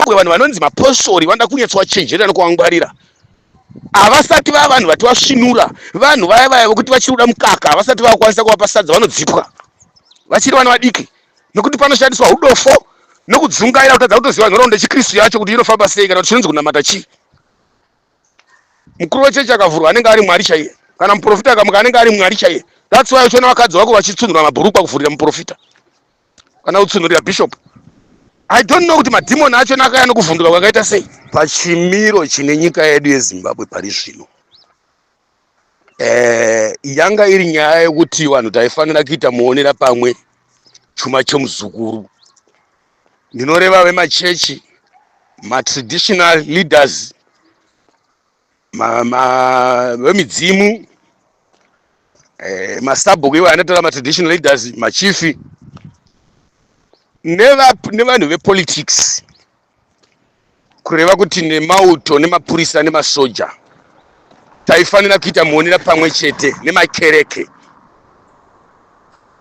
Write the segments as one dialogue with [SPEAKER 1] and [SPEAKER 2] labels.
[SPEAKER 1] muzimbabwe vanhu vanonzi mapostori vanoda kunyetswa chenjerera nokuvangwarira havasati vava vanhu vati vasvinura vanhu vaya vaya vokuti vachiri kuda mukaka havasati vakwanisa kuvapa sadza vanodzipwa vachiri vana vadiki nokuti panoshandiswa udofo nokudzungaira kutadza kutoziva nhoraundo yechikristu yacho kuti inofamba sei kana kuti chinonzi kunamata chii mukuru wechechi akavhurwa anenge ari mwari chaiye kana muprofita akamuka anenge ari mwari chaiye that's why uchiona vakadzi vako vachitsunhura mabhurukwa kuvhurira muprofita kana kutsunhurira bishop i don't know kuti madhimoni acho nakaya nokuvhunduka kwakaita sei pachimiro chine nyika yedu yezimbabwe pari zvino eh, yanga iri nyaya yekuti vanhu taifanira kuita muonera pamwe chuma chemuzukuru ndinoreva vemachechi matraditional leaders ma, ma, vemidzimu eh, masabhuku ivo anotora matraditional leaders machifi nevanhu vepolitics kureva kuti nemauto nemapurisa nemasoja taifanira kuita muonera pamwe chete nemakereke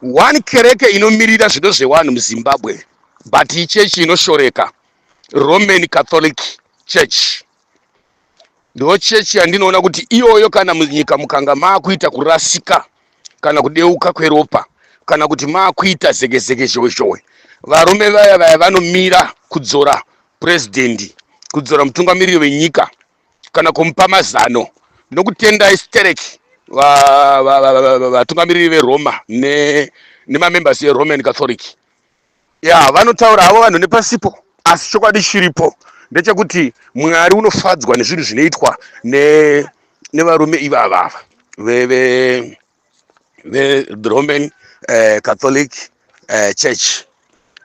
[SPEAKER 1] one kereke inomirira zvido zvewanhu muzimbabwe but ichechi inoshoreka roman catholic church ndo chechi yandinoona kuti iyoyo kana munyika mukanga maakuita kurasika kana kudeuka kweropa kana kuti maakuita zekezeke zhowezhowe varume vaya vaya vanomira kudzora purezidhendi kudzora mutungamiriri wenyika kana kumupa mazano nokutendai stereki vatungamiriri veroma nemamembers eroman catholic ya vanotaura havo vanhu nepasipo asi chokwadi chiripo ndechekuti mwari unofadzwa nezvinhu zvinoitwa nevarume ne ivava veve the roman uh, catholic uh, church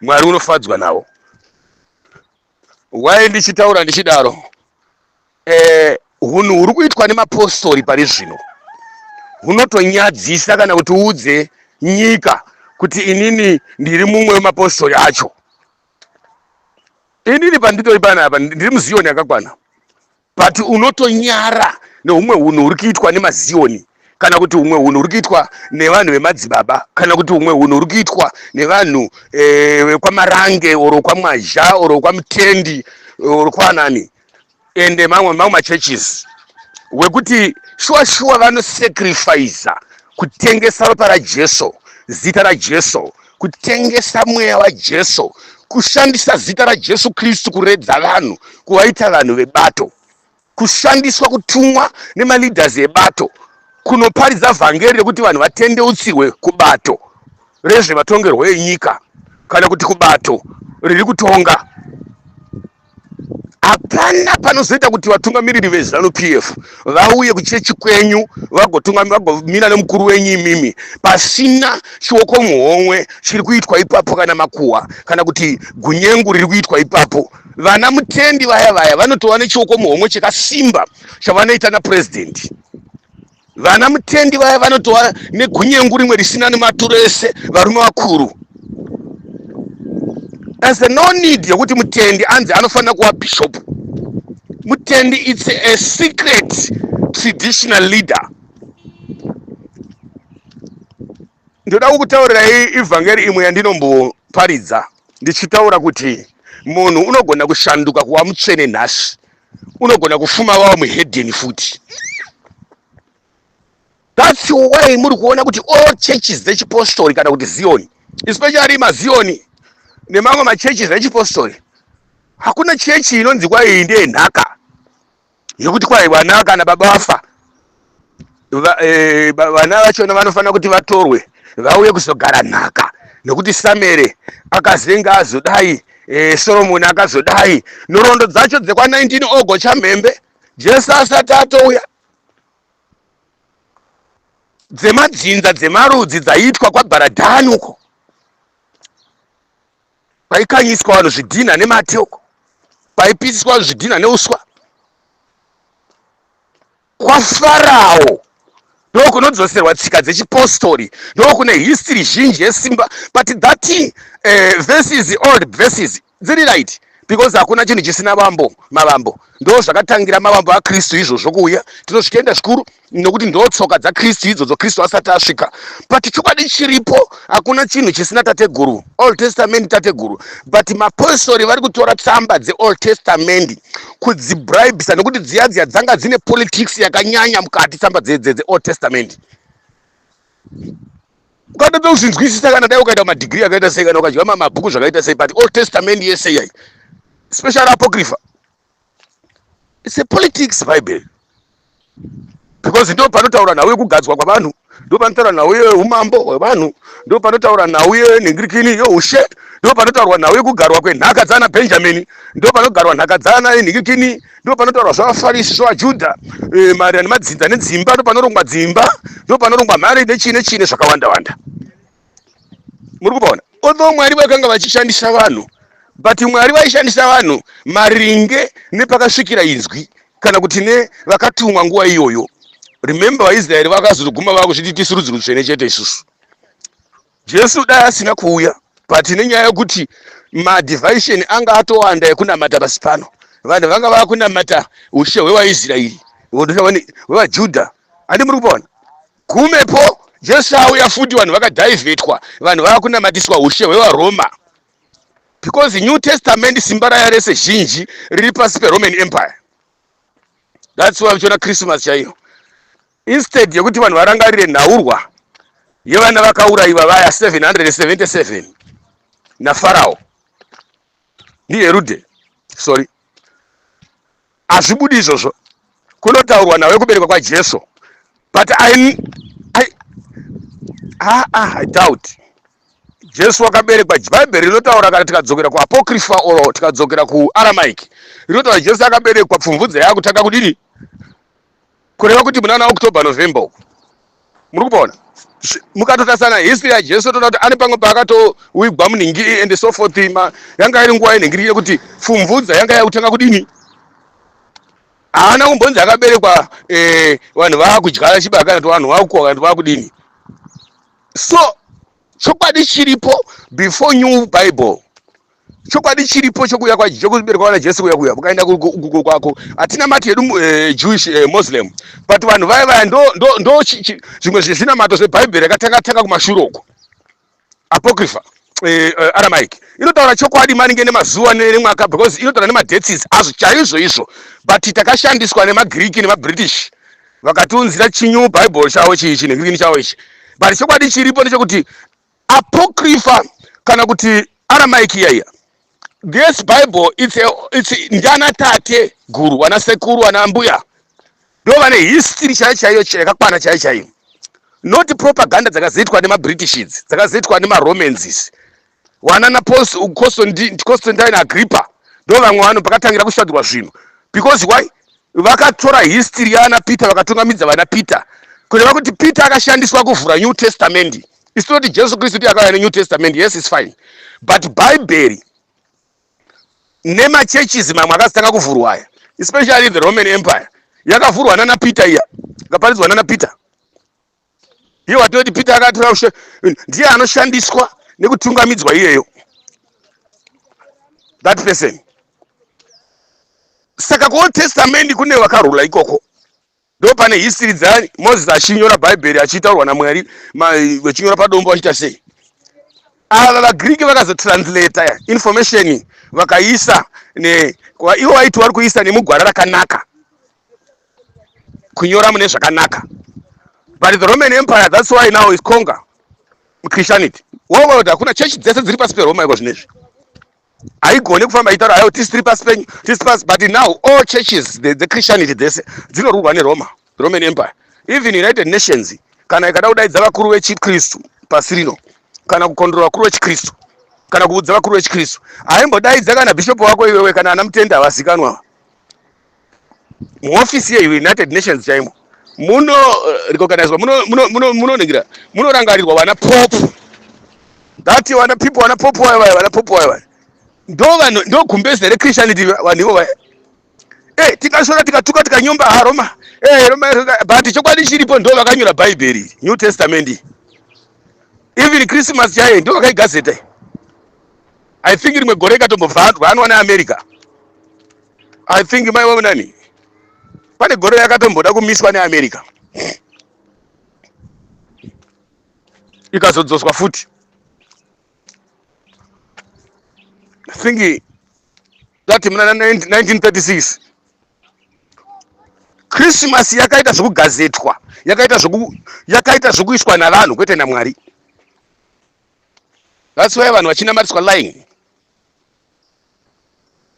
[SPEAKER 1] mwari unofadzwa navo Why ndichitaura ndichidaro? Eh, hunhu huri kuitwa nemapostori pari zvino hunotonyadzisa kana kuti uudze nyika kuti inini ndiri mumwe wemapostori acho. Inini panditori panapa ndiri muziyoni yakakwana. but unotonyara neumwe unhu uri kuitwa nemazioni kana kuti umwe unhu uri kuitwa nevanhu vemadzibaba kana kuti umwe unhu uri kuitwa nevanhu eh, vekwamarange eh, or kwamwazha or kwamutendi or kwanani ende eh, mamwe mamwe machurches wekuti shuwa shuwa vanosacrifiza kutengesa ropa rajesu zita rajesu kutengesa mweya wajesu kushandisa zita rajesu kristu kuredza vanhu kuvaita vanhu vebato kushandiswa kutumwa nemaleaders ebato kunoparidza vhangeri rekuti vanhu vatendeutsirwe kubato rezvematongerwo enyika kana kuti kubato riri kutonga hapana panozoita kuti vatungamiriri vezanu pf vauye kuchechi kwenyu vagomira nemukuru wenyu imimi pasina chioko muhomwe chiri kuitwa ipapo kana makuwa kana kuti gunyengu riri kuitwa ipapo vana mutendi vaya vaya vanotova nechioko muhomwe chekasimba chavanoita napurezidendi vana mutendi vaya vanotova negunyengu rimwe risina nematuro ese varume vakuru as the no need yekuti mutendi anzi anofanira kuva bishop mutendi its a secret traditional leader ndoda kukutaurirai ivhangeri imwe yandinomboparidza ndichitaura kuti munhu unogona kushanduka kuva mutsvene nhasi unogona kufuma wava muhedheni futi thats why muri kuona kuti all churches dzechipostori kana kuti zioni especially mazioni nemamwe machurches echipostori hakuna chechi inonzi kwai ndiye nhaka yekuti kwai vana kana baba vafa eh, vana vachona vanofanira kuti vatorwe vauye kuzogara nhaka nokuti samere akazenga azodai eh, soromoni akazodai nhoroondo dzacho dzekwa19 ogo chamhembe jesu asati atouya dzemadzinza dzemarudzi dzaiitwa kwabharadhani uko paikanyiswa vanhu zvidhinha nemate uko paipisiswa vanhu zvidhinha neuswa kwafarawo ndokunodzoserwa tsika dzechipostori ndokune history zhinji yesimba but that uh, verses old verses dziri right because hakuna chinhu chisina vambo mavambo ndo zvakatangira mavambo akristu izvozvo kuuya tinosvikaenda zvikuru nokuti ndo tsoka dzakristu idzodzo kristu asati asvika but chokwadi chiripo hakuna chinhu chisina tateguru old testament tateguru but mapostori vari kutora tsamba dzeold testament kudzibribisa nokuti dziya dziya dzanga dzine politics yakanyanya mukati tsamba dzeold testament ukatoda kuzvinzwisisa kana dai ukaita madigrii akaita sei kana ukadya mamabhuku zvakaita sei but old testament yese yai special apocrypha It's a politics Bible. Because ndo panotaura nhau yekugadzwa kwavanhu, ndo panotaura nhau yeumambo hwevanhu, ndo panotaura nhau yenhingirikini yeushe, ndo panotaurwa nhau yekugarwa kwenhaka dzaana Benjamin, ndo panogarwa nhaka dzaana inhingikini, ndo panotaurwa zvavafarisi zvavaJudha, e, eh, maererano nemadzinza nedzimba, ndo panorongwa dzimba, ndo panorongwa mhari nechii nechii nezvakawanda wanda. muri kupaona although mwari vakanga vachishandisa vanhu but mwari vaishandisa vanhu maringe nepakasvikira inzwi kana kuti ne vakatumwa nguva iyoyo remember vaisraeri vakazoguma vava kuzviti tisu rudzi rutsvene chete isusu jesu dai asina kuuya but nenyaya yekuti madivishon anga atowanda ekunamata pasi pano vanhu vanga vava kunamata ushe hwevaisraeri hwevajudha andi muri kupaona Gumepo Jesu auya futi vanhu vakadhaivhetwa, vanhu vava kunamatiswa hushe hwevaRoma because New Testament simba raya rese zhinji riri pasi peRoman Empire. That's why uchiona Christmas chaiyo instead yekuti vanhu varangarire nhaurwa yevana vakaurayiwa vaya 777 naFarao ndiHerude sorry Hazvibudi izvozvo. Kunotaurwa nawe kuberekwa kwaJesu. But I I ah ah I doubt. Jesu wakaberekwa Bible rinotaura kana tikadzokera kuApocrypha or tikadzokera kuAramaic. Rinotaura Jesu akaberekwa pfumvudza yakutanga kudini? kureva kuti munana october november uku muri kupaona mukatotasana history yajesu toda kuti ane pamwe paakatowigwa muningi and so forth ma yanga iri nguva yenhingiri yekuti pfumvudza yanga yakutanga kudini haana kumbonzi akaberekwa eh, vanhu vaakudya chibaka kana kuti vanhu vakukoka kana kuti vakudini so chokwadi chiripo before new bible chokwadi chiripo chokuuya chokubereka kwana jesu kuya kuya ukaenda kugugo kwako hatina mati hedu eh, jewish eh, muslim but vanhu vaya vaya ndo zvimwe zvezvinamato zvebhaibheri yakatanga tanga kumashure uko apocrypha eh, aramaic inotaura chokwadi maringe nemazuva nemwaka because inotaura nemadetis azvo chaizvo izvo but takashandiswa nemagiriki nemabritish vakatiunzira chinyu bible chavo chiichi negiriki chavo ichi but chokwadi chiripo ndechekuti apocrypha kana kuti aramaic iyaiya this bible it's, a, it's ndiana tate guru ana sekuru ana mbuya ndo vane history chaiyo chaiyo yakakwana chaiyo chaiyo not propaganda dzakazoitwa nemabritish idzi dzakazoitwa nemaromans izi wanana constantine agrippa ndo vamwe vanhu pakatangira kushandurwa zvinhu because why vakatora history yaana peter vakatungamidza vana peter kureva kuti peter akashandiswa kuvhura new testament isi tinoti jesu kristu ndiye akauya nenew testament yes is fine but bhaibheri nemachurches mamwe akazitanga kuvhurwa aya especially the roman empire yakavhurwa nana peter iya ikaparidzwa nana peter iye watinoti peter akatora ushe ndiye anoshandiswa nekutungamidzwa iyeyo that person saka kuold testament kune vakarula ikoko ndo pane history dza moses achinyora bhaibheri achitaurwa namwari vachinyora padombo vachiita sei ava vagriki vakazotranslata information vakaisa ivo vaiti vari kuisa nemugwara rakanaka kunyora mune zvakanaka but the roman empire thats why now is conga christianity world hakuna chechi dzese dziri pasi peroma iko zvinezvi haigone kufamba ichitaura hayo tisi tiri pasi penyu tisi pasi but now all churches dzechristianity dzese dzinorurwa neroma roman empire even united nations kana ikada kudaidza vakuru vechikristu pasi rino kana kukondrora vakuru vechikristu kana kuudza vakuru vechikristu haimbodaidza kana bhishopu wako iwewe kana ana mutenda havazikanwa muhofisi yeunited nations chaimo muno eh, recognizwa munoningira munorangarirwa vana pop that vana people vana pop vaya vaya vana pop vaya vaya ndovanhu ndogumbezi rechristianity vanhu ivo vaya e tikasora tikatuka tikanyomba haroma e roma but chokwadi chiripo ndo vakanyora bhaibheri new testament even christmas chaiye ndo vakaigazeta i think rimwe gore ikatombovhanzwa anwa neamerica i think mai wavo nani pane gore yakatomboda kumiswa neamerica ikazodzoswa futi i think that muna 1936 christmas yakaita zvekugazetwa yakaita zveku yakaita zvekuiswa navanhu kwete namwari That's why vanhu vachinamatiswa lying.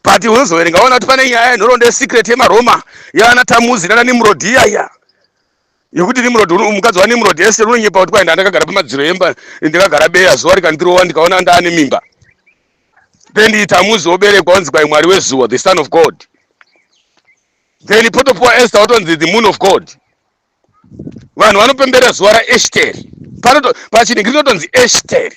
[SPEAKER 1] But unozoverenga waona kuti pane nyaya yenhoroondo yesecret yemaRoma yaana Tamuzi nana Nimrod iya iya yekuti Nimrod mukadzi waNimrod yese unonyepa kuti kwai ndandakagara pamadziro emba ndakagara beya zuva rikandirowa ndikaona ndaane mimba then Tamuzi oberekwa onzi kwai mwari wezuva the son of God then potopuwa Esther watonzi the moon of God vanhu vanopemberera zuva raeshteri pachinhingiri rinotonzi eshteri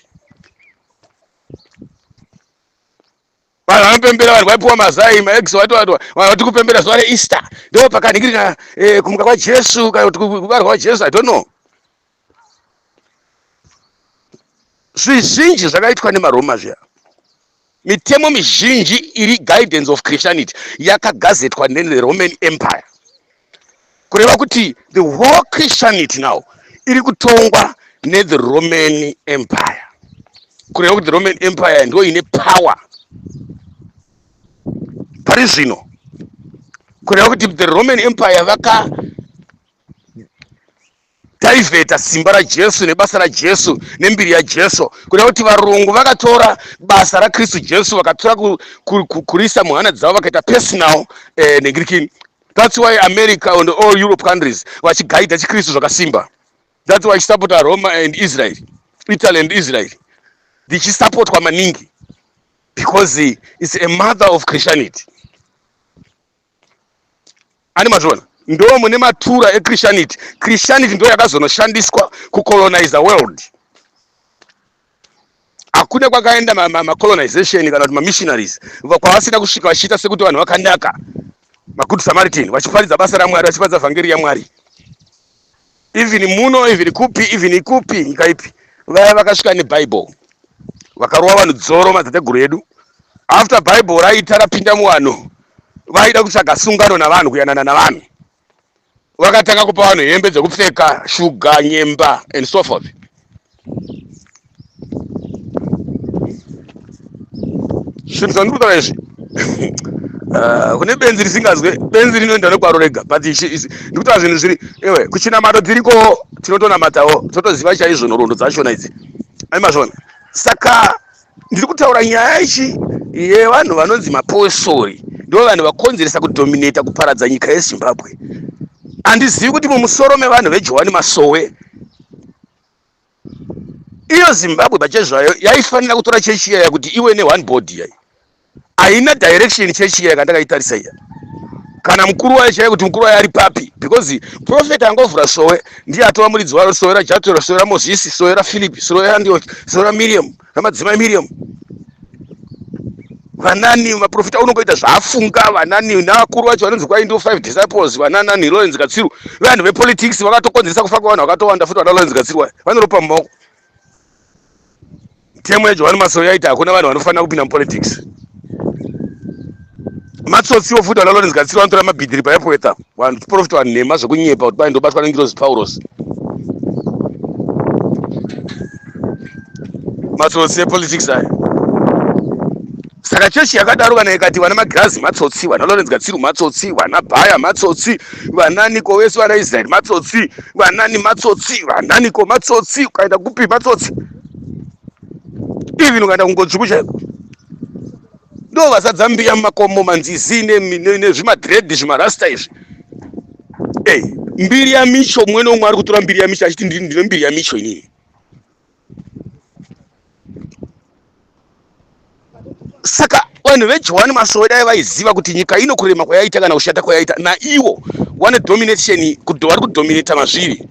[SPEAKER 1] vanhu vanopembera vanhu vaipiwa mazai maexo vatovatwa vanhu vati kupembera zuva reeaster ndo pakanhingirira eh, kumuka kwajesu kana kuti kubarwa kwajesu i don't know zvizhinji zvakaitwa nemaroma zviya Mitemo mizhinji iri guidance of Christianity yakagazetwa ne Roman Empire. Kureva kuti the whole Christianity now iri kutongwa ne the Roman Empire. Kureva kuti the Roman Empire ndiyo ine power pari zvino. Kureva kuti the Roman Empire vaka taivheta simba rajesu nebasa rajesu nembiri yajesu kuda kuti varungu vakatora basa rakristu jesu vakatora ku, ku, ku, kurisa muhana dzavo vakaita personal eh, negirikini thats why america and all europe countries vachigaidha chikristu zvakasimba thats why chisapota roma and israel italy and israel ndichisapotwa maningi because it's a mother of christianity ani mazviona ndo mune matura echristianity christianity ndo yakazonoshandiswa kucolonize world hakuna kwakaenda macolonization ma, ma kana kuti mamissionaries kwavasina kusvika vachiita sekuti vanhu vakanaka magood samaritan vachiparidza basa ramwari vachiparidza vhangeri yamwari even muno even kupi even ikupi nyika ipi vaya vakasvika nebible vakarova vanhu dzoro madzitateguru edu after bible raita rapinda muvanhu vaida kutsvaga sungano navanhu kuyanana navanhu vakatanga kupa vanhu hembe dzekupfeka shuga nyemba and so forth zvinhu zvandiri kutaura izvi ah, kune benzi risingazwe benzi rinoenda nekwaro rega but ndikutaura zvinhu zviri ewe kuchinamato dziriko tinotonamatawo totoziva chaizvo nhoroondo dzachona idzi aimazvona saka ndiri kutaura nyaya ichi yevanhu vanonzi maposori ndo vanhu vakonzeresa kudominata kuparadza nyika yezimbabwe handizivi kuti mumusoro mevanhu vejohani masowe iyo zimbabwe pache zvayo yaifanira kutora chechi iyaya kuti iwe ne one body yayi haina direction chechi iyaya kandakaitarisa iya kana mukuru wayo chaiye kuti mukuru wayo ari papi because profet angovhura sowe ndiye atova muridzi waro sowe rajatura sowe ramozisi sowe rafilipi sowe randioki sowe ramiriamu namadzimai miriam vanani maprofita unongoita zvaafunga vanani navakuru vacho vanonzi kwai ndo five disciples vananani lorenz katsiru vanhu vepolitics vakatokonzeresa kufa kwevanhu vakatowanda futi vana lorenz katsiru vaya vanoropa mumaoko temu yajohani masoya yaita hakuna vanhu vanofanira kupinda mupolitics matsotsi ofuta na lawrence gatsiro anotora mabhidhiri paepweta vanhu tiprofita vanhu nhema zvekunyepa kuti kwai ndobatwa nengirozi paurosi matsotsi epolitics aya saka chechi yakadaro kana ikati vana magirazi matsotsi vana lawrence gatsiru matsotsi vana bhaya matsotsi vananiko vese vana israeri matsotsi vanani matsotsi vananiko matsotsi ukaenda kupi matsotsi even ukaenda kungodzvuku chaiko ndo vazadza mbiya mumakomo manzizi nezvimadred zvimarasta izvi ey mbiri yamicho umwe neumwe ari kutora mbiri yamicho achiti ndine mbiri yamicho inini saka vanhu vejohani masowe dai vaiziva kuti nyika ino kurema kwayaita kana kushata kwayaita naiwo wane domination vari kudominata mazviri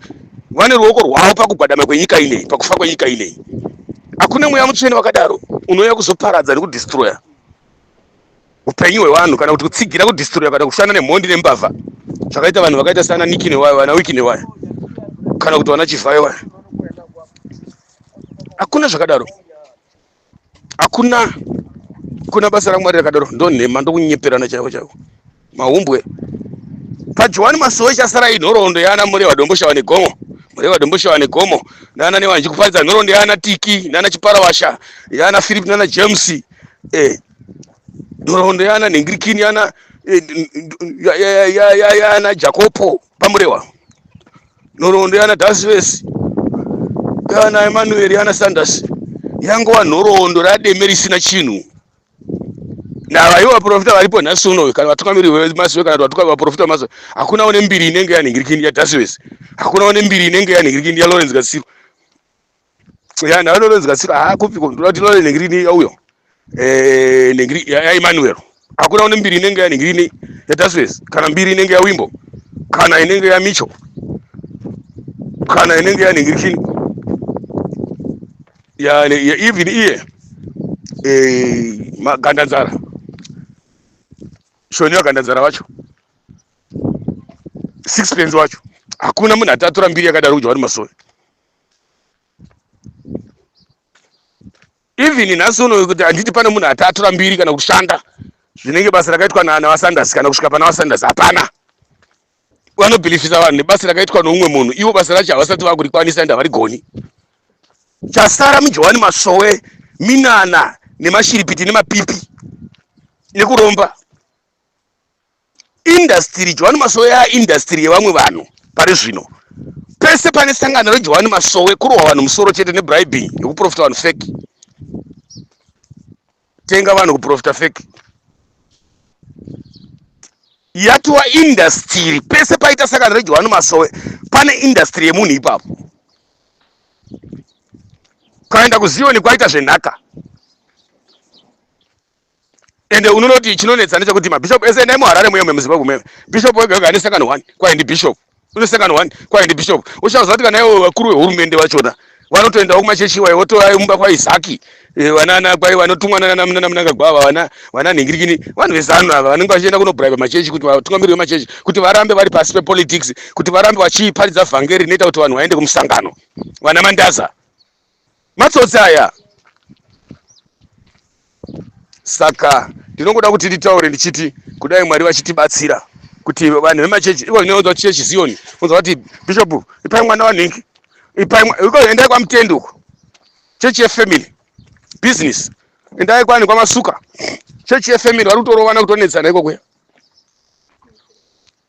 [SPEAKER 1] vane ruoko rwavo pakugwadama kwenyika ineyi pakufa kwenyika ineyi hakuna mweya mutsvene wakadaro unouya kuzoparadza nekudistroya upenyu hwevanhu kana kuti kutsigira kudistroya kana kushanda nemhondi nembavha zvakaita vanhu vakaita sana niki newaya vana wiki newaya kana kuti vana chivhayo vaya hakuna zvakadaro hakuna kuna basa ramwari rakadaro ndonhema ndokunyeperana chaivo chaivo mahumbwe pajohani masowe chasara inhoroondo yaana mureva domboshawa negomo mureva domboshawa negomo nana newa ndichikuparidza nhoroondo yaana tiki nana chiparawasha yaana philip nana james eh, nhoroondo yaana nhingirikini yaana eh, n- n- ya- ya- ya- ya- yaana jakopo pamurewa nhoroondo yana dasivesi yana emanueri yana sanders yangova nhoroondo rademe risina chinhu navaivo vaprofita varipo nhasi unoyo kana vatungamiri vemazive kana kuti vaprofita vemazive hakuna une mbiri inenge yanhingirikindi yadasivesi hakuna une mbiri inenge yanhingirikindi yalawrence gatsirwa ya ndava ndononzi katsiro haa kupiko ndoda kuti ndinore nhengiri ini yauyo eh, nhengiri yaemanuel hakuna une mbiri inenge yanhengiri ini yadasves kana mbiri inenge yawimbo kana inenge yamicho kana inenge yanhengiri chini even iye eh, magandanzara shoni yagandanzara wacho sixpence wacho hakuna munhu atatora mbiri yakadaro kudya vari masoni even nhasi unoyo kuti handiti pane munhu ati atora mbiri kana kushanda zvinenge basa rakaitwa navasanders kana kusvika pana vasanders hapana vanobhilifisa vanhu nebasa rakaitwa noumwe munhu ivo basa racho havasati vakurikwanisa ende havarigoni chasara mujohani masowe minana nemashiripiti nemapipi nekuromba indasitiri johani masowe yaindasitiri yevamwe vanhu pari zvino pese pane sangano rejohani masowe kurohwa vanhu musoro chete nebribing yekuprofita vanhu feki tenga vanhu kuprofita feki yatova indasitiri pese paita sangano rejohani masowe pane indasitiri yemunhu ipapo ukaenda kuziyoni kwaita zvenhaka ende unoona kuti chinonetsa ndechekuti mabishop ese endai muharare muye memuzimbabwe muye bishop wega wega ane sangano one kwaye ndi bishop une sangano one kwaye ndi bishop uchaziva kuti kana ivo vakuru vehurumende vachona vanotoendawo kumachechi iwayo votoa mumba kwaisaki eh, vanana kwai vanotumwa nanamnangagwa ava vana vana nhingirikini vanhu vezanu ava vanenge vachienda kunobraiba machechi kuti vatungamiriri vemachechi kuti varambe vari pasi pepolitics kuti varambe vachiparidza vhangeri rinoita kuti vanhu vaende kumusangano vana mandaza matsotsi aya saka ndinongoda kuti nditaure ndichiti kudai mwari vachitibatsira kuti vanhu vemachechi iko inounzwa chechi ziyoni unzwa kuti bishop ipai mwana wanhingi ipai mwa- iko endai kwamutendi uko chechi yefamily business endai kwani kwamasuka chechi yefamily vari kutorovana kutonetsana iko kuya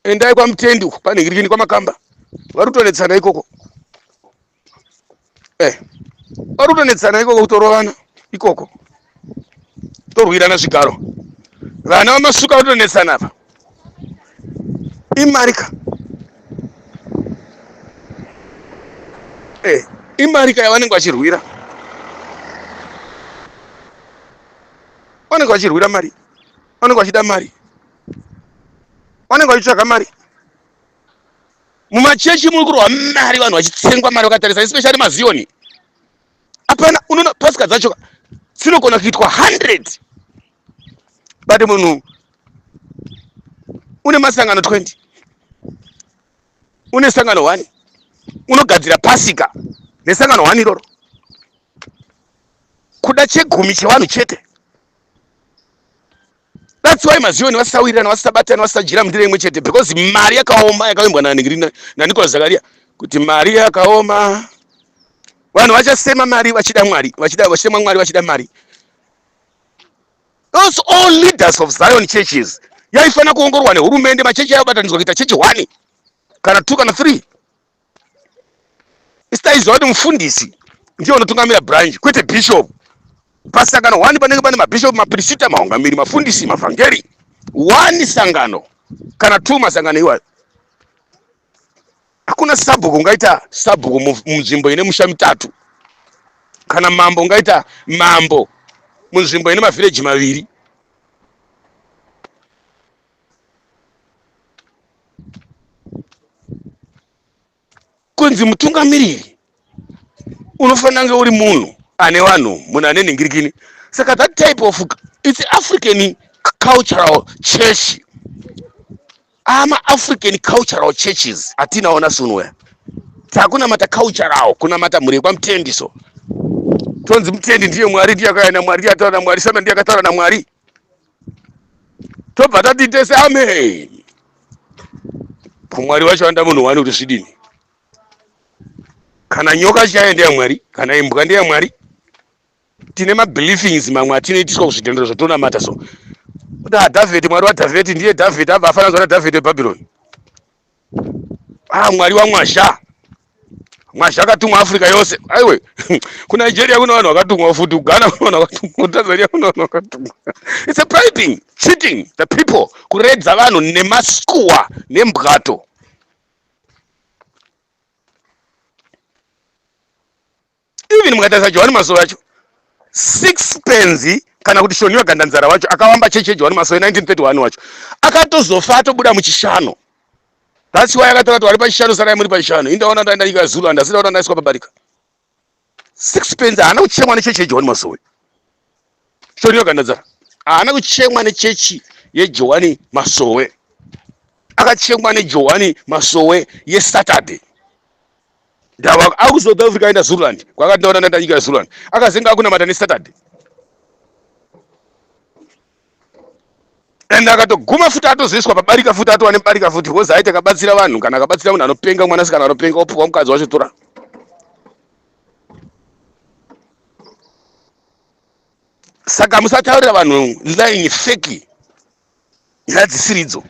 [SPEAKER 1] endai kwamutendi uko panhingirikini kwamakamba vari kutonetsana ikoko eh pari kutonetsana ikoko kutorovana ikoko torwirana zvigaro vana vamasuka vatonetsana apa imarika eh imarika yavanenge vachirwira vanenge vachirwira mari vanenge vachida mari vanenge vachitsvaga mari mumachechi muri kurwa mari vanhu vachitsengwa mari vakatarisa especially maziyoni apana unoona pasika dzacho dzinogona kuitwa 100 but munhu une masangano 20 une sangano 1 unogadzira pasika nesangano 1 iroro kuda chegumi chevanhu chete That's why mazioni vasisawirirana vasisabatana vasisadyira mundiro imwe chete because mari yakaoma yakavimbwa naNicolas Zakaria kuti mari yakaoma vanhu vachasema mari vachida mwari vachida vachema mwari vachida mari those all leaders of Zion churches yaifanira kuongorwa nehurumende machechi ayobatanidzwa kuita chechi one kana two kana three sitaiziva kuti mufundisi ndiye unotungamira branch kwete bishop pasangano wani panenge pane mabishop mapirisita maungamiri mafundisi mavhangeri wani sangano kana two masangano iwayo hakuna sabhuku ungaita sabhuku munzvimbo ine musha mitatu kana mambo ungaita mambo munzvimbo ine mavhireji maviri kunzi mutungamiriri unofanira kunge uri munhu ane vanhu munhu ane nhingirikini saka that type of its african cultural church amaafrican cultural churches atinawo nasunwea takunamata cultural kunamata mhuri yekwamutendi so tonzi mutendi ndiye mwari ndiye akaenda mwari ndiye ataura namwari satan ndiye akataura namwari tobva tati tese ameni kumwari vacho vanoda munhu wani kuti zvidini kana nyoka chaiyo ndeyamwari kana imbwa ndeyamwari tine mabeliefings mamwe atinoitiswa kuzvitendero zvatonamata so kuti adhavheti mwari wadhavheti ndiye dhavheti abva afananzwa nadhavheti webhabhironi ah mwari wamwazha mwazha akatumwa africa yose aiwe kunigeria kune vanhu vakatumwa futi kughana kune vanhu vakatumwa kutanzania kune vanhu vakatumwa its a bribing cheating the people kuredza vanhu nemaskuwa nembwato even mukatarisa johani masowe acho six penzi kana kuti shoniwa gandanzara wacho akavamba chechi yejohani masowe 1931 wacho akatozofa atobuda muchishano thats why akatora kuti vari pachishano sarai muri pachishano indaona ndaenda nyika yazulu handasi ndaona ndaiswa pabarika six penzi haana kuchemwa nechechi yejohani masowe shoniwa gandanzara haana kuchemwa nechechi yejohani masowe akachengwa nejohani masowe yesaturday ndava akuzoda Africa aenda Zululand kwakati ndaona ndaenda nyika yeZululand akazenga akunamata neSaturday and akatoguma futi atozoiswa pabarika futi atova nebarika futi because aiti akabatsira vanhu kana akabatsira munhu anopenga mwanasikana anopenga opuwa mukadzi wacho tora saka musataurira vanhu line feki nyaya dzisiridzo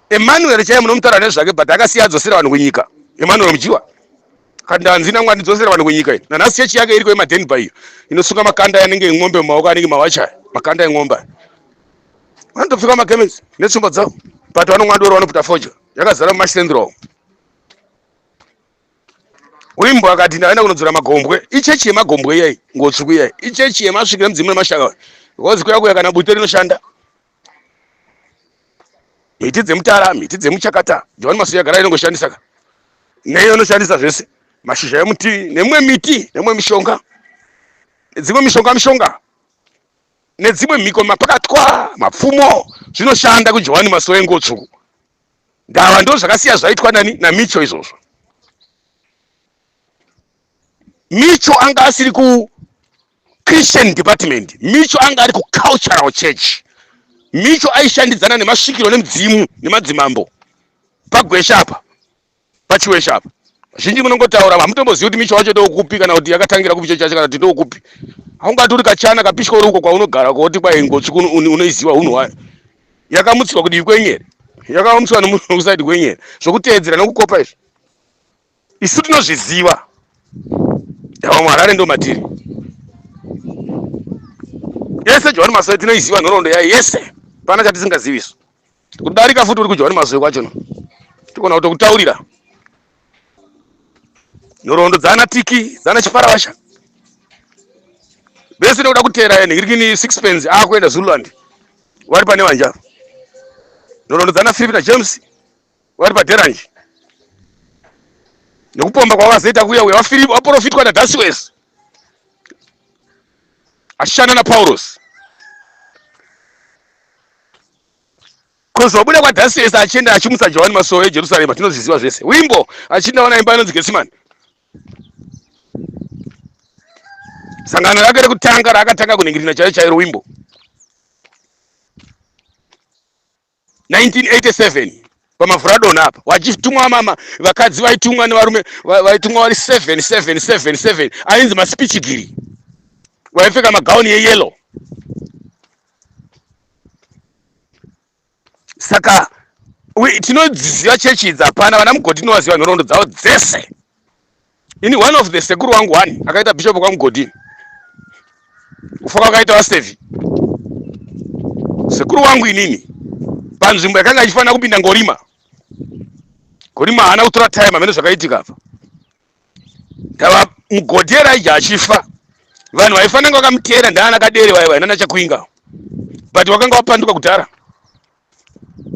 [SPEAKER 1] emmanuel chaiye munomutaura nezvake but akasiya adzosera vanhu kunyika emmanuel mujiwa kandanzi nangwa ndidzosera vanhu kunyika iyi nanhasi chechi yake iriko yemadenba iyo inosunga makanda anenge en'ombe mumaoko anenge mawachaya makanda en'ombe vanotopfeka magemenzi netsvimbo dzavo but vanongwandoro vanoputa foja yakazara mumasendro Uyu mbwa akati ndaenda kunodzora magombwe. Ichechi yemagombwe iyayi, ngotsvuku iyayi. Ichechi yemasvikiro emudzimu nemashaka. Ngozi kuya kuya kana bute rinoshanda. Miti dzemutara, miti dzemuchakata. John Masuya agara inongoshandisa ka. Neyo inoshandisa zvese. Mashizha emuti nemwe miti, nemwe mishonga. Dzimwe mishonga mishonga. Nedzimwe mhiko mapakatwa, mapfumo zvinoshanda kuJohani Masowe ngotsvuku. gava ndo zvakasiya zvaitwa nani namicho izvozvo micho anga asiri ku christian department micho anga ari ku cultural church micho aishandidzana nemasvikiro nemudzimu nemadzimambo pagwesha apa pachiweshe apa zhinji munongotaura hamutombozivi kuti misha wacho ndoukupi kana kuti yakatangira kupi chochacho kana kuti ndoukupi haungati uri kachana kapishwa uri uko kwaunogara kwaoti kwai ngochi unoiziva hunhu wayo yakamutsirwa kudivi kwenyere yakamutsirwa nemunhu kusaidi kwenyere zvokuteedzera nokukopa izvi isu tinozviziva yavamwe harare ndo matiri yese johani masoe tinoiziva nhoroondo yayo yese pana chatisingaziviso Kudarika futi uri kudya uri mazoe kwacho no. Tikona kutokutaurira. Nhorondo dzana tiki, dzana chiparavasha. Bese ndokuda kutera yene, iri kini sixpence akuenda Zululand. Wari pane vanja. Nhorondo dzana Philip na James wari pa Derange. Nekupomba kwavazoita kuya uya waFilip waprofitwa na Dasiwes. Ashana na Paulos. Kuzobuda kwaDhasiyesi achienda achimutsa Johani masuo eJerusarema tinozviziva zvese. Wimbo achinda wana imba inonzi Getsimani. Sangano rake rekutanga raakatanga kuningirina chairo chairo wimbo 1987 pamavhuradoni apa wachitumwa mama vakadzi vaitumwa nevarume vaitumwa vari 7777 ainzi masipichigiri vaipfeka magauni yeyellow saka tinodziziva chechi idzi hapana vana mugodhi tinovaziva nhoroondo dzavo dzese ini one of the sekuru wangu one akaita bishop kwamugodhi kufa kwakaita vastevi sekuru wangu inini panzvimbo yakanga ichifanira kupinda ngorima gorima haana kutora time amene zvakaitika apa Ndava mugodi Elijah achifa. Vanhu vaifanira kunge vakamuteera ndaana kadere vaya vaya nana chakuinga. But wakanga wapanduka kudhara.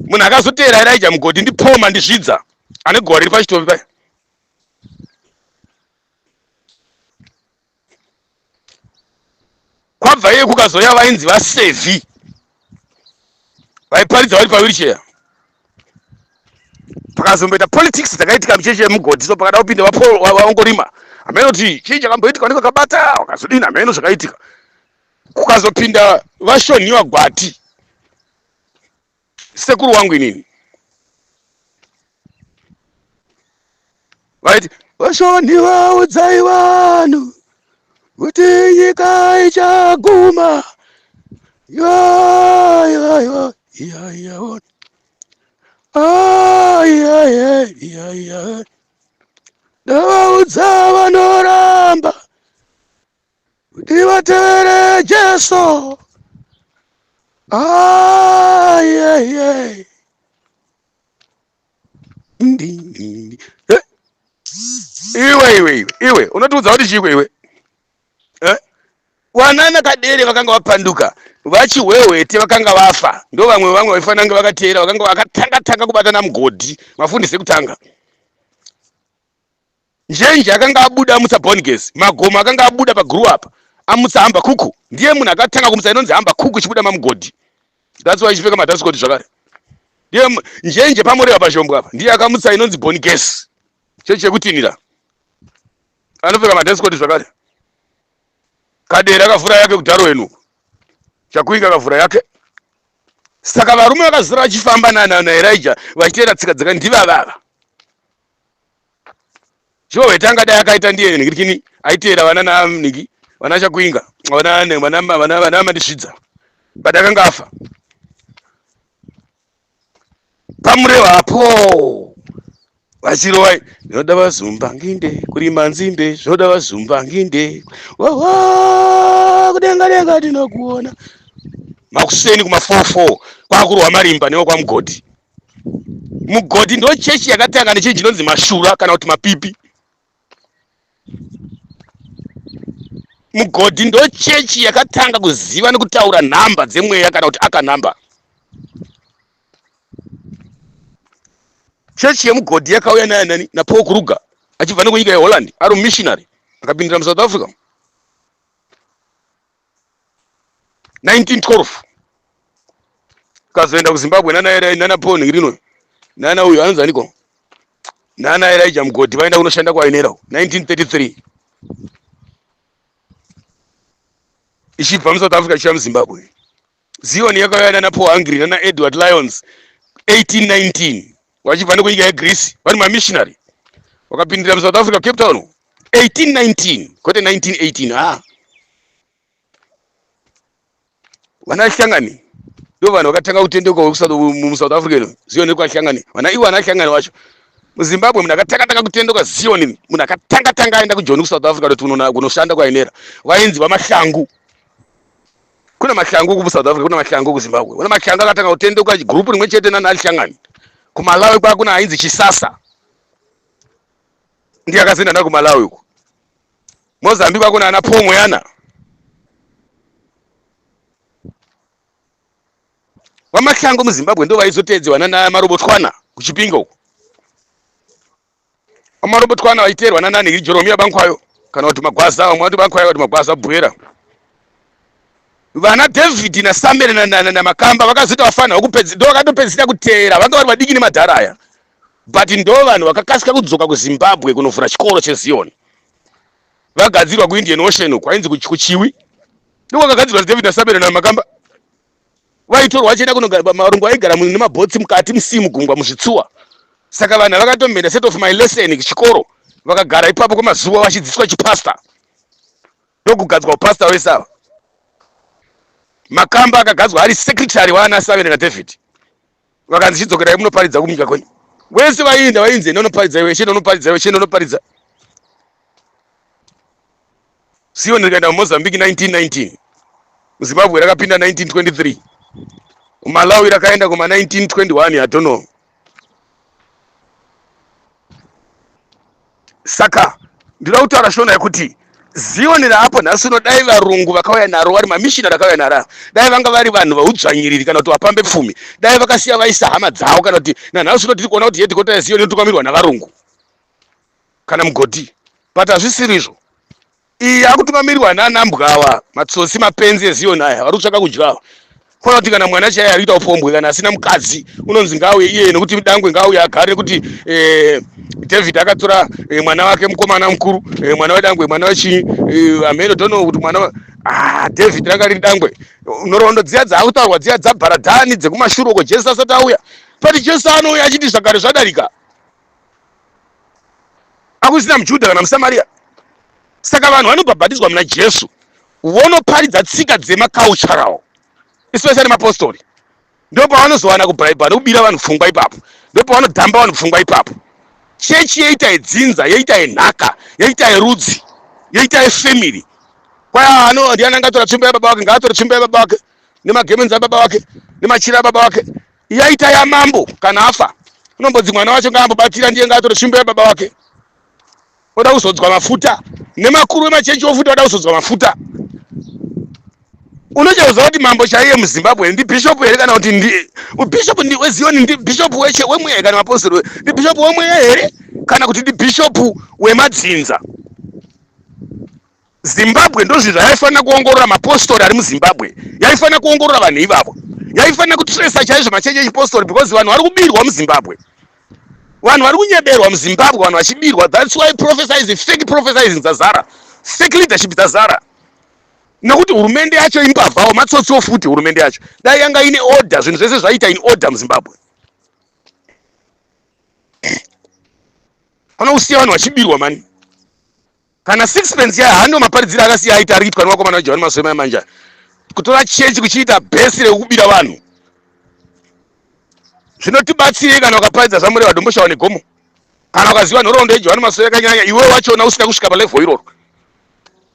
[SPEAKER 1] Munhu akazoteera Elijah mugodi ndi Paul Mandizvidza ane gore riri pachitovi paya. kwabva iye kukazouya vainzi vasevi vaiparidza vari pawiricheya pakazomboita politics dzakaitika muchechi yemugodhi so pakada kupinda vaongorima hameno kuti chii chakamboitika niko kabata wakazodini hameno zvakaitika kukazopinda vashonhiwa gwati sekuru wangu inini vaiti vashoni vaudzai vanhu kuti nyika ichaguma yaiwaiwa yaiyaona aiaiaiaiai ndavaudza vanoramba kuti vatevere Jesu. Ah, yeah, yeah. Eh? Iwe iwe iwe unotiudza kuti chiko iwe eh? wanana kadere vakanga vapanduka vachihwehwete vakanga vafa ndo vamwe vamwe vaifanira kunge vakateera vakanga vakatanga tanga kubatana mugodhi mafundisi ekutanga Njenje akanga abuda amutsa Born Girls, Magomo akanga abuda pa Grow Up amutsa Hamba Kuku. Ndiye munhu akatanga kumutsa inonzi Hamba Kuku ichibuda mamugodhi. That's why ichipfeka madance code zvakare. Ndiye mu- njenje pamoreva pashombo apa ndiye akamutsa inonzi Born Girls. Chechi chekutinhira anopfeka madance code zvakare. Kadera akavhura yake kudharo wenu. Chakuinga akavhura yake. Saka varume vakazara vachifamba nana naErija vachiteera tsika dzaka ndivavava. Sure weta angadai akaita ndiye ningirikini aiteera vana na ningi vana chakuinga vana ne- vana ma- vana vana mandisvidza but akanga afa pamureo apo vachirova zvinoda vazumba nginde kurima nzimbe zvinoda vazumba nginde wawa kudenga denga tinokuona makuseni kuma 44 kwakurwa marimba newe kwamugodhi mugodhi ndo chechi yakatanga nechinhu chinonzi mashura kana kuti mapipi mugodhi ndo chechi yakatanga kuziva nekutaura nhamba dzemweya kana kuti akanhamba chechi yemugodhi yakauya naye nani napaul kruger achibva nekunyika yeholland ari mumissionary akapindira musouth africa 1912 kazoenda kuzimbabwe nana erai nana paul ngirinoi nana uyo anonzi aniko nana elijah mugodi vaenda kunoshanda kwainera 1933 ichibva musouth africa ichiya muzimbabwe zion yakauya nana paul hungry nana edward lions 1819 vachibva nekunyika yegreece vari mamissionary vakapindira musouth africa cape town 1819 kwete 1918 ha vana hlangani ndo vanhu vakatanga kutendeuka mumusouth africa ino zion yekwahlangani vana ivo vana hlangani vacho muzimbabwe munhu akatanga tanga kutendeuka zion munhu akatanga tanga aenda kujoni kusouth africa kuti kunoshanda kwainera vainzi vamahlangu Kuna mashangu ku South Africa, kuna mashangu ku Zimbabwe. Kuna mashangu akatanga kutenduka group rimwe chete nana Alishangani. Ku Malawi kwa kuna ainzi Chisasa. Ndiye akazinda na ku Malawi uko. Mozambique kuna ana Pongo yana. Vamashango muZimbabwe ndo vaizoteedzewa nana Marobotwana kuChipinge uko. Amarobotwa ana vaiteerwa nanani iri Joromiya Bankwayo kana kuti Magwaza vamwe vati Bankwayo vati Magwaza Bwera. Vana David na Samuel na, na, na Makamba vakazoita vafanirwa kupedza ndo vakatopedzisira kuteera vanga vari vadiki nemadhara aya but ndo vanhu vakakasika kudzoka kuZimbabwe kunovhura chikoro cheZion vagadzirwa kuIndian Ocean uko ainzi kuchiwi ndiko kagadzirwa David na Samuel na Makamba vaitorwa vachienda kunogara marungu aigara nemabhotsi mukati musii mugungwa muzvitsuwa saka vanhu vakatomhenda set of my lesson chikoro vakagara ipapo kwemazuva vachidzidziswa chipasta ndokugadzwa upasta wese ava makamba akagadzwa ari secretary waana savene nadavid vakanzi chidzokerai munoparidza kunyika kwenyu wese vaienda vainzi enda unoparidza iwe chienda unoparidza iwe chienda unoparidza sio ndikaenda mumozambique 1919 muzimbabwe rakapinda 1923 umalawi rakaenda kuma 1921 i don't know saka ndinoda kutaura shona yekuti zioni raapo nhasi uno dai varungu vakauya naro vari mamishina rakauya naro dai vanga vari vanhu vaudzvanyiriri kana kuti vapambe pfumi dai vakasiya vaisa hama dzavo kana kuti nanhasi uno tiri kuona kuti hedhikota yezioni inotungamirwa navarungu kana mugoti but hazvisiri izvo iyi yakutungamirirwa nana mbwawa matsotsi mapenzi ezion aya vari kutsvaka kudyawa kona kuti kana mwana chaiye ari kuita upombwe kana asina mukadzi unonzi ngauye iye nekuti mdangwe ngauye agare nekuti eh, david akatora eh, mwana wake mukomana mukuru eh, mwana wedangwe mwana wechii eh, amheno tono kuti mwana ah, david ranga riri dangwe nhoroondo dziya dzaakutaurwa dziya dzabharadhani dzekumashure uko jesu asati auya pati jesu anouya achiti zvagare zvadarika akusina muJudha kana muSamaria. Saka vanhu vanobhabhatidzwa muna Jesu vonoparidza tsika dzemacultural especially mapostori ndipo pavanozowana kubhaibha nekubira vanhu pfungwa ipapo ndipo pavanodhamba vanhu pfungwa ipapo chechi yoita yedzinza yoita yenhaka yoita yerudzi yoita yefamily kwaya ano ndiani angatora tsvimbo yababa wake ngaatore tsvimbo yababa wake nemagemenzi ababa wake nemachira ababa wake yaita yamambo kana afa unombodzi mwana wacho ngaambobatira ndiye ngaatore tsvimbo yababa wake oda kuzodzwa mafuta nemakuru emachenchi ofuta oda kuzodzwa mafuta unochauza kuti mambo chaiye muzimbabwe ndibhishopu here kana kuti ndi bhishopu ndi wezioni ndibhishopu weche wemweya here kana mapostori we- ndibhishopu wemweya here kana kuti ndibhishopu wemadzinza zimbabwe ndozvinhu zvayaifanira kuongorora mapostori ari muzimbabwe yaifanira kuongorora vanhu ivavo yaifanira kutresa chaizvo machechi echipostori because vanhu vari kubirwa muzimbabwe vanhu vari kunyeberwa muzimbabwe vanhu vachibirwa thats why prophesizing fake prophesizing dzazara fake leadership dzazara nekuti hurumende yacho imbavhawo matsotsiwo futi hurumende yacho dai yanga ine order zvinhu zvese zvaita in order muzimbabwe pano kusiya vanhu vachibirwa mani kana sixpence yayo hando maparidziro akasiya aita ari kuitwa nevakomana vejavani masoema yamanja kutora chechi kuchiita bhesi rekubira vanhu zvinotibatsirei kana ukaparidza zvamure vadomboshawa negomo kana ukaziva nhoroondo yejavani masoema yakanyanya iwe wachona usina kusvika palevho iroro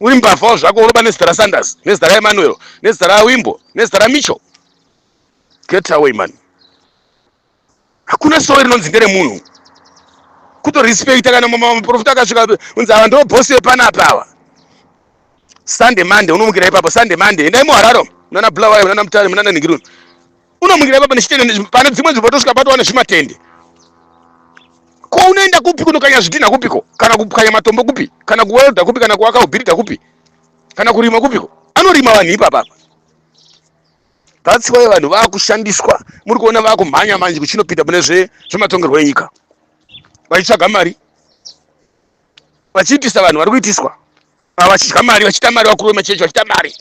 [SPEAKER 1] uri mbavhawo zvako unoba nezita rasanders nezita raemanuel nezita rawimbo nezita ramicho get away mani hakuna sowe rinonzi nderemunhu kutorespecta kana maprofita akasvika unzi ava ndo boss vepanapa ava sunday monday unomukira ipapo sunday monday endai muhararo munana bulawayo munana mutare munana ningiruni unomukira ipapo nechitende pane dzimwe nzvimbo tosvika patowana zvimatende ko unoenda kupi kunokanya zvidhina kupiko kana kukanya matombo kupi kana kuwelda kupi kana kuwaka ubhirida kupi kana kurima kupiko anorima vanhu ipapapa That's why vanhu vakushandiswa muri kuona vakumhanya manje kuchinopinda mune zvematongerwo enyika vachitsvaga mari vachiitisa vanhu vari kuitiswa vachidya mari vachita mari vakuru vemachechi vachita mari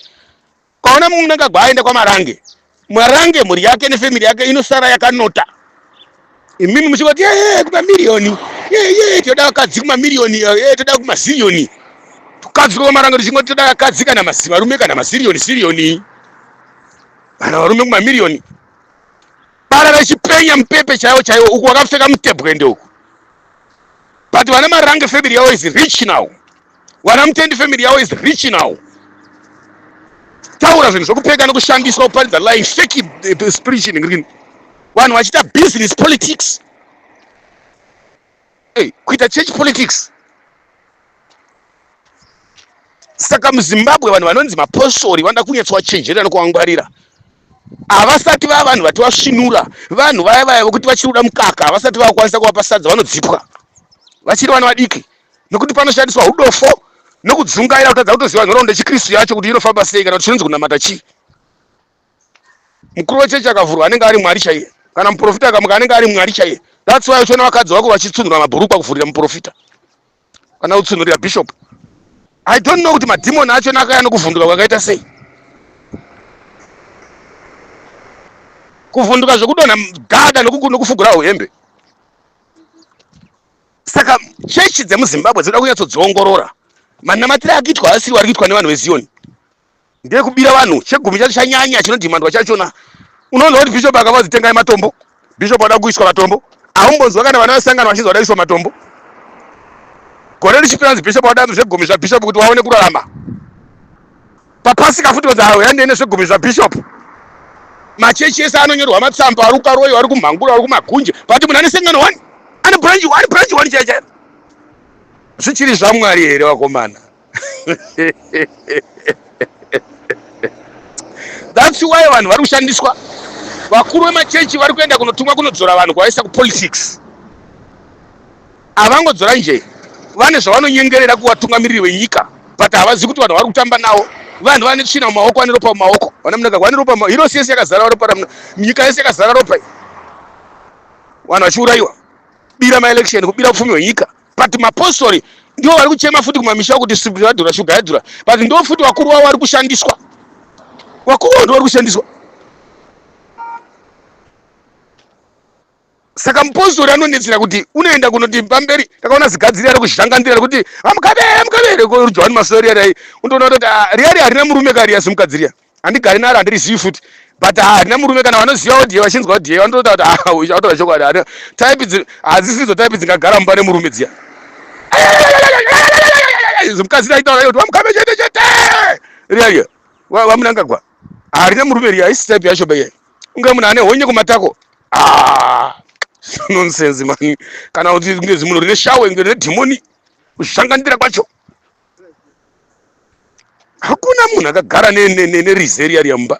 [SPEAKER 1] ukaona mumwe unenge agwa aenda kwamarange marange mhuri yake nefamiri yake inosara yakanota imimi muchingoti yee kumamiriyoni yee yee tinoda vakadzi kumamiriyoni yee toda kumaziriyoni tukadzi kwamarango tichingoti toda vakadzi kana varume kana maziriyoni siriyoni kana varume kumamiriyoni bara rechipenya mupepe chaiwo chaiwo uku wakapfeka mutebwende uku but vana marange family yavo is rich now Wana Mutendi family yavo is rich now. Taura zvinhu zvekupfeka nekushandiswa kuparidza lying fake eh, spiritual ngrini. Vanhu vachiita business politics. Hey, kuita church politics. Saka muZimbabwe vanhu vanonzi mapostori vanoda kunyetswa chenjerera nokuangwarira havasati vava vanhu vati vasvinura vanhu vaya vaya vokuti vachiri kuda mukaka havasati vakwanisa kuvapa sadza vanodzipwa vachiri vana vadiki nokuti panoshandiswa hudofo nokudzungaira kutadza kutoziva nhoroondo yechikristu yacho kuti inofamba sei kana kuti chinonzi kunamata chii mukuru wechechi akavhurwa anenge ari mwari chaiye kana muprofita akamuka anenge ari mwari chaiye that's why uchiona vakadzi vako vachitsunhura mabhurukwa kuvhurira muprofita kana kutsunhurira bishop i don't know kuti madhimoni achona akaya nokuvhunduka kwakaita sei kuvhunduka zvekudonha gada nokufugurawo hembe saka chechi dzemuzimbabwe dzinoda kunyatsodziongorora manamatire akiitwa asiri wari kuitwa nevanhu vezioni ndekubira vanhu chegumi chacho chanyanya chinodhimandwa chachona unoona kuti bishop akava zitengai matombo bishop ada kuiswa matombo aumbonzwa kana vana vasangana vachinzi vada kuiswa matombo gore richipera nzi bishop wada zvegumi zvabishop kuti waone kurarama papasika futi vadza yandei nezvegumi zvabishop machechi ese anonyorwa matsamba ari ukaroyo ari kumhanguro ari kumagunje but munhu ane sengano one ane branch one branch one chaiyo chaiyo zvichiri zvamwari here vakomana that's why vanhu vari kushandiswa vakuru vemachechi vari kuenda kunotumwa kunodzora vanhu kwavaisa kupolitics Avangodzora njee vane zvavanonyengerera kuvatungamiriri venyika but havazivi kuti vanhu vari kutamba nawo vanhu vane tsvina mumaoko vane ropa mumaoko vana munaka vane ropa hirosi yese yakazara ropa ramuna nyika yese yakazara ropa vanhu vachiurayiwa bira maelection kubira upfumi hwenyika but mapostori ndivo vari kuchema futi kumamisha kuti sibri yadhura shuga yadhura but ndo futi vakuru vavo vari kushandiswa vakuru vavo ndo vari kushandiswa saka mupostori anonetsera kuti unoenda kunoti pamberi takaona zigadziri ari kuzhangandira rekuti amukabere mukabere korujohani masori yarai undoona kutoti ah, riyari harina murume kari yasi mukadziriya handigari naro handirizivi futi but ah, harina murume kana vanoziva odie vachinzwa odie vanotoita kuti ah, uyu chakutaura chokwadi harina type dzi hadzisidzo type dzingagara mumba nemurume dziya mukadziri aitaura kuti vamukame chete chete riyariya vamunangagwa Hari ne murume riya haisi type yacho beye. Unge munhu ane honye kumatako. Ah. Nonsense man. Kana kuti kunge zimuno rine shawe kunge rine demoni. Kushangandira kwacho. Hakuna munhu akagara ne ne ne, ne rizeria riya mumba.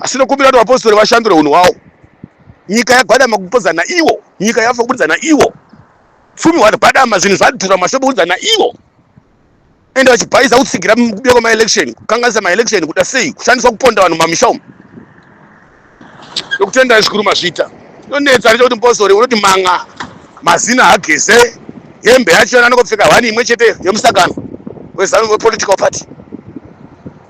[SPEAKER 1] asi nokumbira kuti vapostori vashandure unhu hwawo nyika yagwadama kupodzana iwo nyika yafa kubudidzana iwo pfumi hwagwadama zvinhu zvadhura mashopo kubudidzana iwo ende vachibhaiza kutsigira kubuda kwemaelection kukanganisa maelection kuda sei kushandiswa kuponda vanhu mumamisha umu nokutendai zvikuru mazvita inonetsa nechekuti mupostori unoti manga mazina hageze hembe yacho yananokopfeka hwani imwe chete yemusangano wepolitical party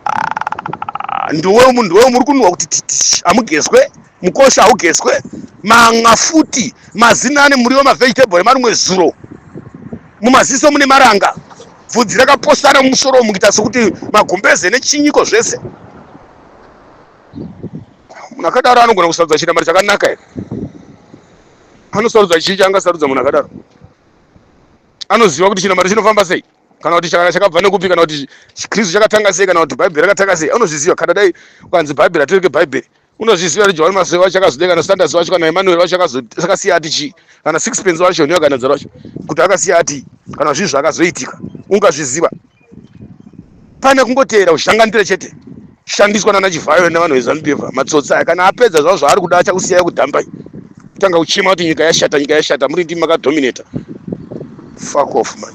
[SPEAKER 1] Ah, ndowe munhu ndowe muri kunwa kuti titi hamugezwe mukosha haugezwe manwa futi mazina ane muriwo mavegetable emarumwe zuro mumaziso mune maranga bvudzi rakaposana mumusoro umu kuita sokuti magumbeze nechinyiko zvese munhu akadaro anogona kusarudza chinamari chakanaka here anosarudza chii chaangasarudza munhu akadaro anoziva kuti chinamari chinofamba sei kana kuti chakana chakabva nekupi kana kuti kristu chakatanga sei kana kuti bhaibheri rakatanga sei unozviziva kana dai ukanzi bhaibheri atireke bhaibheri unozviziva kuti johani masoe wacho akazodeka kana standards wacho kana emmanuel wacho akasiya ati chii kana sixpence wacho neakanadza racho kuti akasiya ati kana zvinhu zvakazoitika ungazviziva pane kungoteera kuzhanganitira chete shandiswa nana chivhayo nevanhu vezanupeva matsotsi aya kana apedza zvavo zvaari kuda achakusiyai kudhambai kutanga kuchema kuti nyika yashata nyika yashata muri ndimi makadominata fuck off man